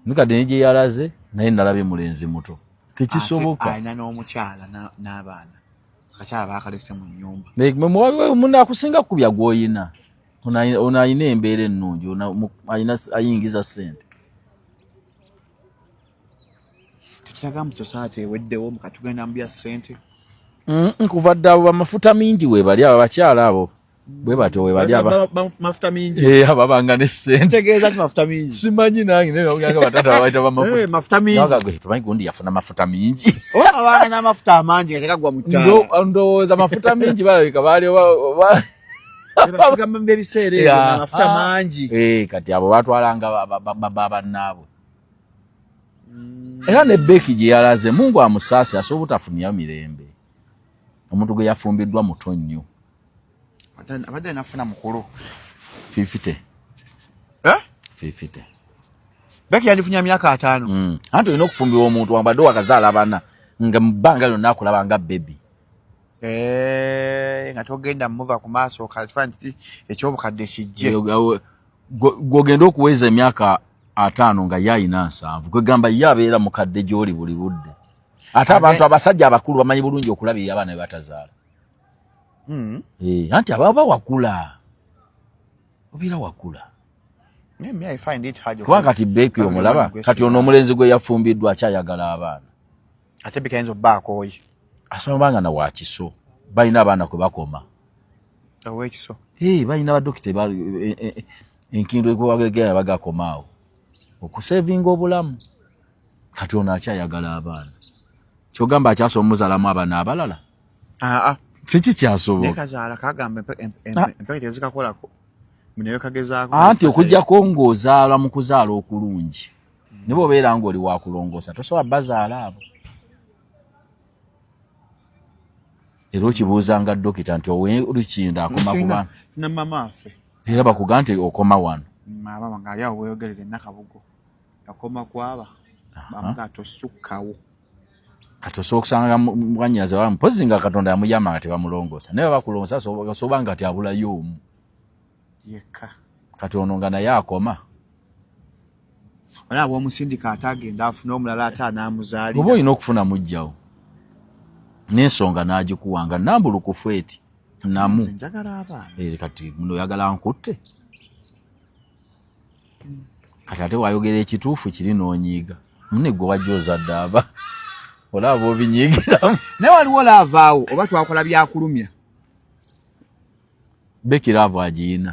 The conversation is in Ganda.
mikadde ne gye yalaze naye nalabye mulenzi muto tekisoboka alina n'omukyala n'abaana akakyala baakalese mu nnyumba munne akusinga kukubya gw'oyina ono alina embeera ennungi ayingiza ssente tekiraga mu society eweddewo mukatugenda mu bya ssente nkuva dda abo bamafuta mingi webali abo abakyala abo bwe batyo we bali mafuta mingi eh ababanga ne sente tegeeza ti mafuta mingi simanyi nange naye bagamba batata babaita ba mafuta eh mafuta mingi naga gwe tumanyi gundi yafuna mafuta mingi o oh, abana na mafuta amangi nga tekagwa mu ttala ndo ndowooza mafuta mingi balabika baali bagamba ebiseera ebyo mafuta ah. mangi eh kati abo batwalanga babannaabwe mm. era ne beki gye yalaze mungu amusaasi asobola obutafunira mirembe omuntu gwe yafumbiddwa muto nnyo abadde alina kufuna mukulu fifite eh? fifite beki yandifunya myaka ataano mm. anti olina okufumbirwa omuntu wabadde wakazaala abana nga mubbanga lyonna akulaba nga bebi eh, nga togenda muva ku maaso okakifaani kiti ekyobukadde kijje gwogenda okuweza emyaka ataano nga ye alina nsanvu kwegamba ye abeera mukadde gyoli buli budde ate abantu abasajja abakulu bamanyi bulungi okulabirira abaana bebatazaala mm. e, anti ababa wakula obeera wakula kuba kati beeki omulaba kati ono omulenzi gwe yafumbiddwa akyayagala abaana ate bikayinza obbaakooyi asoma banga na wakiso balina abaana kwe bakoma owekiso hey, balina badokita e, e, e, enkindu ekubagegera bagakomaawo okusevinga obulamu kati ono akyayagala abaana kyogamba akyasoma omuzalamu abaana abalala aa kiki kyasobola nekazaala kagamba empeke tezikakolako muneyo kagezaako anti okujjako ng'ozaala mu kuzaala okulungi hmm. ne bwobeera ng'oli wakulongoosa tosobola bazaala abo era okibuuzanga dokita nti owe lukinda akoma kuba ne mama affe era bakuga nti okoma wano maama wange ali awo weyogerere nakabugo yakoma kwaba bamuga tosukkawo kati osobola okusanga mwanyazi wa mpozi nga katonda yamuyama nga tebamulongoosa naye bakulongoosa osobola nga ti abulayo omu yekka kati ono nga naye akoma olaba omusindika ate agenda afuna omulala ate anamuzaalira oba olina okufuna mujjawo n'ensonga n'agikuwa nga nambulukufu eti namu eh, kati muno oyagala nkutte kati ate wayogera ekituufu kiri n'onyiiga mune gwe wajja ozadde aba olaba obinyiigiramu naye waliwo laavaawo oba twakola byakulumya bekiraavu agiyina